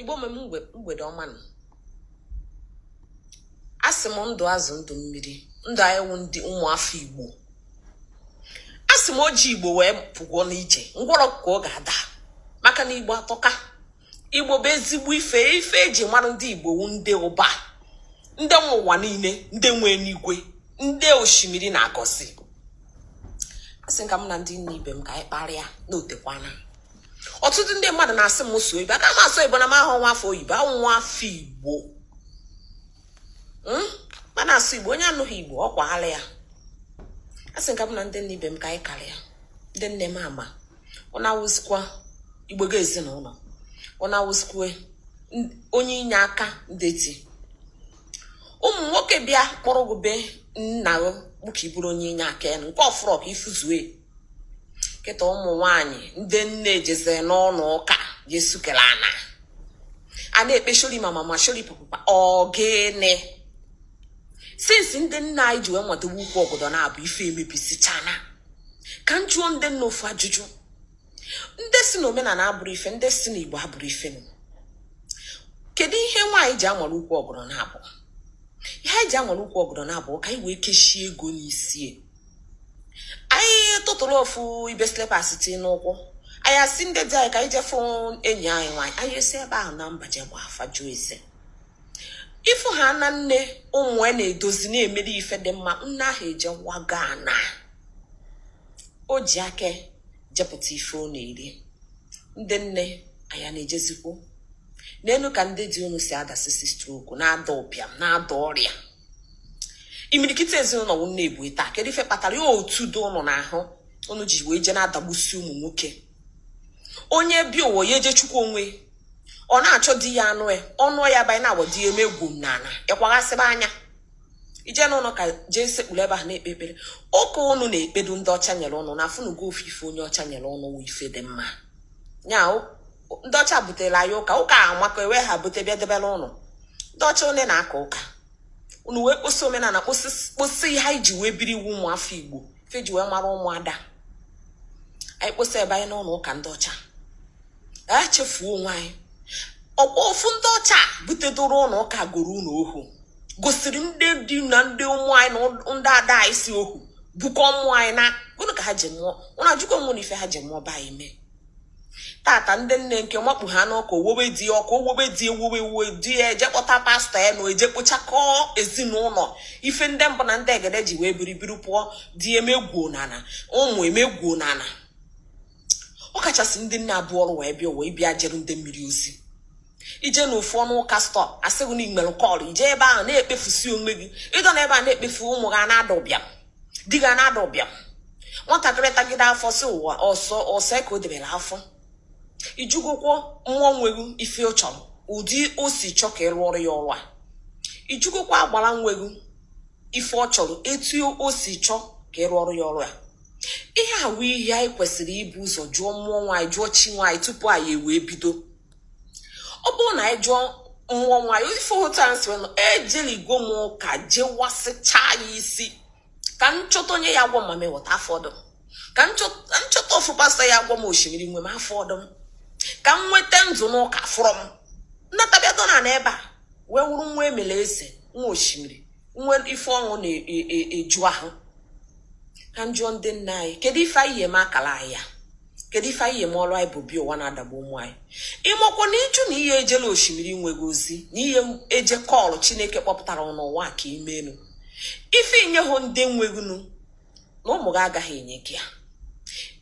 igbo mem mgbede ọma nụ asị m ndụ azụ ndụ mmiri ndụ anyị wụ ndị ụmụafọ igbo asị m oji igbo wee pụgwọ n'ije ngwọrọ ka ọ ga-ada maka na igbo atọka igbo bụ ezigbo ife ife eji mara ndị igbo wu ndị ụba ndị nwe ụwa niile ndị nwe enigwe ndị osimiri na-agọzi asị ka m na ndị nne ibe m ka anyị kparịa na o tekwana ọtụtụ ndị mmadụ na-asị m sụọ oyibo aka m asụ oyibo na m awụ nwa afọ oyibo awụ m nwa afọ igbo hmm? ma na-asụ igbo onye anụghị igbo ọ kwaala ya asị ka m na ndị nne ibe m ka anyị karịa ndị nne mama ọ na-awụzikwa igbo ga ezinụlọ ọ na-awụzikwa onye inye aka ndeti ụmụ nwoke bịa kpọrọ gị be nna gị bụ ka ị bụrụ onye inye aka ya nke ọ fụrọ ka ị fụzue kịta ụmụ nwanyị ndị nne ejezie n'ụnọ ụka je sukere ana a na-ekpe shori mama ma shori papa ọ gịnị since ndị nne anyị ji wee watuo ukwu ọgọdọ naabọ ife emebisichana ka m jụọ ndị nne ofu ajụjụ ndị sị na omenala abụrọ ife ndị sị na igbo abụrọ ife kedu ihe nwaanyị ji amara ukwu ọgọdọ naabọ ihe anyị ji amara ukwu ọgọdọ naabọ ka anyị wee kechie ego n'isi anyị tụtụrụ ofu ibe slippers ti n'ụkwụ anyị asị ndị di anyị ka anyị je fụ enyi anyị nwaanyị anyị esi ebe ahụ na mba je gba afa jụọ ese ị fụhaana nne ụmụ ya na-edozi na-emere ife dị mma nne ahụ eje waga ana o ji aka jepụta ife ọ na-eri ndị nne anya na-ejezikwu n'elu ka ndị di unu si adasisi stroke na-ada ụbịam na-ada ọrịa imirikiti ezinụlọ wụ nne bu ya taa kedu ife kpatara ya otu dụ ụnụ n'ahụ ụnụ ji wee jee na-adagbusi ụmụ nwoke onye bi ụwa ya eje chukwu onwe ọ na-achọ di ya anụ ya ọ nụ ya banye na-agba di ya eme egwu m n'ala ị kwaghasịba anya i je n'ụlọ ụka jee sekpuru ebe ahụ na-ekpe ekpere ụka ụnụ na-ekpe dụ ndị ọcha nyere ụnụ na afụnugo ofu ife onye ọcha nyere ụnụ wụ ife dị mma ya ndị ọcha butere anyị ụka ụka amaka ewe ha bute bịa debere ụnụ ndị ọcha one na-aka ụka unu wee kposi omenala kposi ihe anyị ji wee biri iwu ụmụafọ igbo ife e ji wee mara ụmụada anyị kposi banye n'ụlọ ụka ndị ọcha anyị chefuo onwe anyị ọkwa ofu ndị ọcha butedoro ụnụ ụka goro ụnụ ohu gosiri ndị di na ndị ụmụ anyị na ndị ada anyị si ohu bukọ ụmụ anyị na gịnị ka ha ji mụọ ụnụ ajụkwa mmụọ na ife ha ji mụọ ba anyị mee tata ndị nne nke makpu ha n'ụka owowe di ọkụ owowe di ewuwe ewuwe di ya eje kpọta pastọ ya na eje kpochakọọ ezinụlọ ife ndị mbụ na ndị egede ji wee biribiri pụọ di emegwuo n'ana ụmụ emegwuo n'ana ọ kachasị ndị nne a bu ọrụ wee bịa ụwa ị bịa jere ndị mmiri ozi i je na ofu ụnọ ụka pastọ asị gị na i nwere call i je ebe ahụ na-ekpefusi onwe gị ị dọ na ebe a na-ekpefu ụmụ gị na-ada ụbịam di gị na-ada ụbịam nwatakịrị tagide afọ si ụwa ọsọ ọsọ ka o debere afọ ị jụgokwo mmụọ nwe gị ife ọ chọrọ ụdị o si chọ ka ị rụọrọ ya ọrụ a ị jụgokwa agbara nwe gị ife ọ chọrọ etu o si chọ ka ị rụọrọ ya ọrụ a ihe a wụ ihe anyị kwesịrị ibu ụzọ jụọ mmụọ nwaanyị jụọ chi nwaanyị tupu anyị ewee bido ọ bụrụ na anyị jụọ mmụọ nwanyị ife ụta nsị nọ ejeligo m ụka jewasịchaa ya isi ka m chọta onye ya-agwọ m a m eweta afọ ọdụ m ka m chọta ofu pastọ ya-agwọ m osimiri nwe m afọ ọdụ m ka m nweta ndụ n'ụka fụrọ m nnatabịado na n'ebe a wee wụrụ nwa emele eze nwa osimiri nwe ife ọṅụ na-eju ahụ ka m jụọ ndị nna anyị kedu ife anyị ya-eme akala anyị ya kedu ife anyị ya-eme ọrụ anyị bu bịa ụwa na-adagbu ụmụ anyị ị makwa na ị jụ na i he ejelu osimiri nwe gị ozi na i he eje call chineke kpọpụtara n'ụwa ka i mee nụ ife i nyehọ ndị nwe gị nụ na ụmụ gị agaghị enye gị ya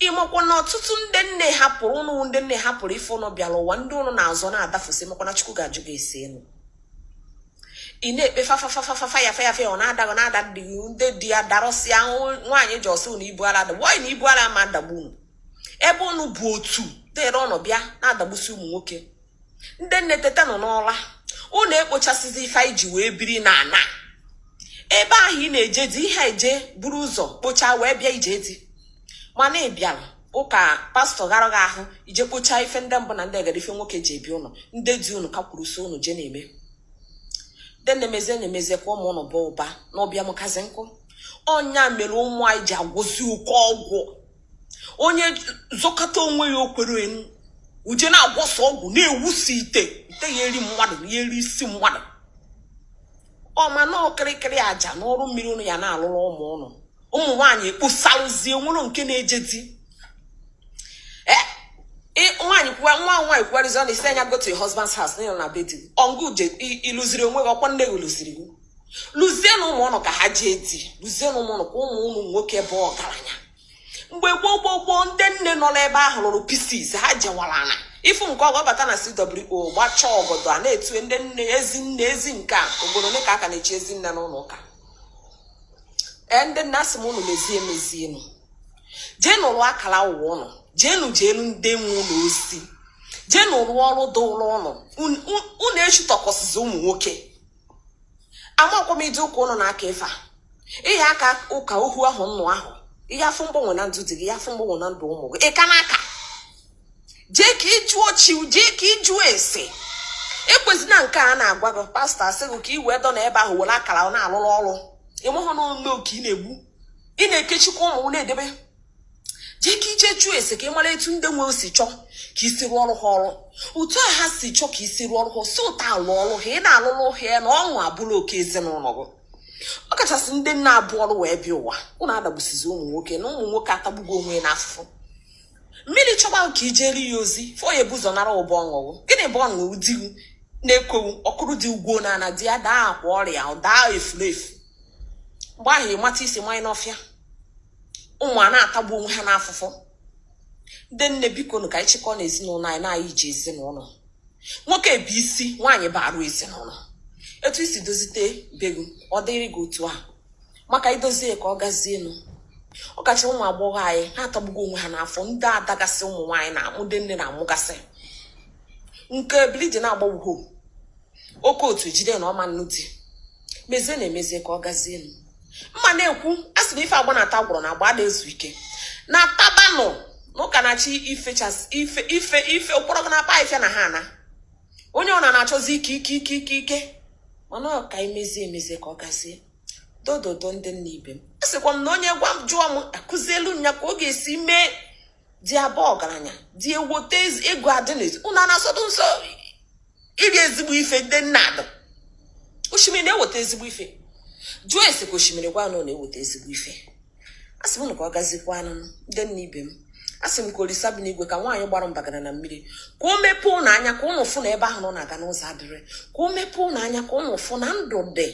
ị makwa na ọtụtụ ndị nne hapụrụ ụnụ ndị nne hapụrụ ife ụnụ bịara ụwa ndị ụnụ na-azọ na-adafụsị makwa na chukwu ga-ajụ gị esi enu ị na-ekpe fafafafafafa ya feyafe ọ na-ada ọ na-ada ndị ndị di ya darọsịa nwaanyị ji ọ sị na ibu ala adagbu nwaanyị na ibu ala ma adagbu unu ebe unu bụ otu dere ọnụ bịa na-adagbusi ụmụ nwoke ndị nne teta nụ n'ụla unu ekpochasịzi ife anyị ji wee biri na ana ebe ahụ ị na-eje di i he eje buru ụzọ kpochaa wee bịa ije di mana ị bịara ụka pastọ gwara gị ahụ i je kpochaa ife ndị mbụ na ndị egede ife nwoke ji ebi ụnọ ndị di ụnụ ka kwuru so ụnụ je na-eme ndị nne mezie nụ mezie ka ụmụ ụnụ bụ ụba na ụbịam kazi nkụ ọ ya mere ụmụ anyị ji agwọzi oke ọgwụ onye zọkata onwe ya o kwere enu o je na-agwọsi ọgwụ na-ewusi ite ite ya eri mmadụ ya eri isi mmadụ ọma na okirikiri aja n'ọrụ mmiri ụnụ ya na-alụrụ ụmụ ụnụ ụmụ nwaanyị kposarụzie enwerọ nke na-eje di e, nwaanyị kwuwa nwa nwaanyị kwuwarụzi ọ na-asị ya go to your husband's house na ị lụ na be di ọ ngị je ịlụziri onwe gị ọ kwa nne gị lụziri gị lụzie na ụmụ ụnụ ka ha jee di lụzie na ụmụ ụnụ ka ụmụ ụmụ nwoke bụ ọgaranya mgbe gboo gboo gboo ndị nne nọ n'ebe ahụ lụrụ pieces ha jewara na ifu nke ọ ga-abata na CWO gbachaa ọgọdọ a na-etu ndị nne ezi nne ezi nke a obodo ole ka a ka na-echi ezi nne n'ụlọ ụka ee ndị nne asị m unu mezie emezienụ jeenụ rụọ akara ụwa ụnụ jeenu jeenu ndị nwe ụnụ ozi jeenụ rụọ ọrụ dịlụ ụnụ unu echutọkọsizi ụmụ nwoke amakwa m ụdị ụka ụnụ na-aka ife a ị ya-aka ụka ohu ahọ nnụ ahọ ị ya-afụ mgbanwe na ndụ di gị ị ya-afụ mgbanwe na ndụ ụmụ gị ị ka na-aka jee ka ị jụọ chi jee ka ị jụọ ese ekwezina nke a na-agwa gị pastọ asị gị ka ị wee dọ na ebe ahụ were akara na-alụrụ ọrụ ị mahọ na ome oke ị na-egbu ị na-ekechikwa ụmụ na-edebe jee ka i je jụọ ese ka ị mara etu ndị nwe si chọọ ka i si rụọ ọrụ ha ọrụ otu a ha si chọọ ka i si rụọ ọrụ ha si otu a lụọ ọrụ ha ị na-alụrụ ha ya na ọṅụ abụrụ oke ezinụlọ gị ọ kachasị ndị nne bu ọrụ wee bịa ụwa ụnụ adagbusizi ụmụ nwoke na ụmụ nwoke atagbugo onwe n'afụfụ mmiri chọba ka i jere ya ozi ife ọ ya-ebu ụzọ nara gụ bụ ọṅụ gụ gịnị bụ ọṅụ di gụ na-ekwu ọ kụrụ di gụ na ana di ya daa akwa ọrịa daa efulefu mgbe ahụ ị mata isi mmanya n'ọfịa ụmụ a na-atagbu onwe ha n'afụfụ ndị nne bikonụ ka anyị chịkọọ n'ezinụlọ anyị na anyị ji ezinụlọ nwoke bụ isi nwaanyị bụ arụ ezinụlọ etu i si dozite be gụ ọ dịrị gị otu a maka i dozie ka ọ gazielụ ọ kacha ụmụ agbọghọ anyị ha atagbugo onwe ha n'afụfụ ndị adagasị ụmụ nwaanyị na-amụ ndị nne na-amụgasị nke ebili di na-agbagbuho oke otu jide na ọ ma-anụ di mezienụ emezie ka ọ gazielụ mma na-ekwu a sị na ife agba na-ata agwụrọ na agba ada ezu ike natabanụ na ụka na-achị ife ife ife ife ụkpọrọ gị na-akpa ife na ha ana onye ọ na-achọzi ike ike ike ike ike mana ọ ka emezie emezie ka ọ gazie doo doo doo ndị nne ibe m asịkwa m na onye gwa m jụọ m akụzielu nya ka ọ ga-esi mee di abaa ọgaranya di ewote ego adị n'ezi unu na-asọdụ nsọ iri ezigbo ife ndị nne ada osimiri na-eweta ezigbo ife jụọ ese ka osimiri gwa na ọ na-eweta ezigbo ife a sị m ka ọ gazikwanụ ndị nne ibe m a sị m ka olisa bi n'igwe ka nwaanyị gbara mbagara na mmiri ka o mepee ụnụ anya ka ụnụ fụ na ebe ahụ ụnụ na-aga na ụzọ adịrọ ka o mepee ụnụ anya ka ụnụ fụ na ndụ dị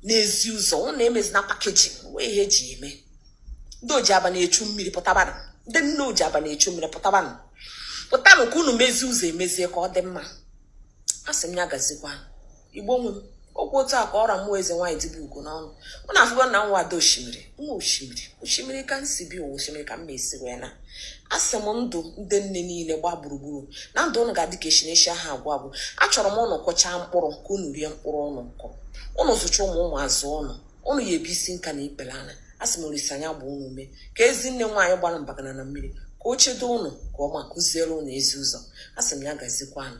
n'ezi ụzọ ụnụ emezina pakeji wee ihe eji eme ndị oji abanị echu mmiri pụtabanụ ndị nne oji abanị echu mmiri pụtabanụ pụtanụ ka unu mezie ụzọ emezie ka ọ dị mma a sị m ya gazikwa igbo nwe m okwu otu a ka ọ ra mụọ eze nwaanyị dibe ugo n'ọnụ mụ na afụgo na nwa ada osimiri nwa osimiri osimiri ka m si bịa ụwa osimiri ka m na-esi wee naa asị m ndụ ndị nne niile gbaa gburugburu na ndụ ụnụ ga-adị ka echi na echi aha agwụ agwụ achọrọ m ụnụ kọchaa mkpụrụ ka ụnụ rie mkpụrụ ụnụ kọ ụnụ zụcha ụmụ ụmụ azụọ ụnụ ụnụ ya-ebi isi nka na ikpere ana asị m olisa nya gbaa ụnụ ume ka ezi nne nwaanyị gbara mbagana na mmiri ka o chedo ụnụ ka ọ ma kụziere ụnụ ezi ụzọ asị m ya gazikwanụ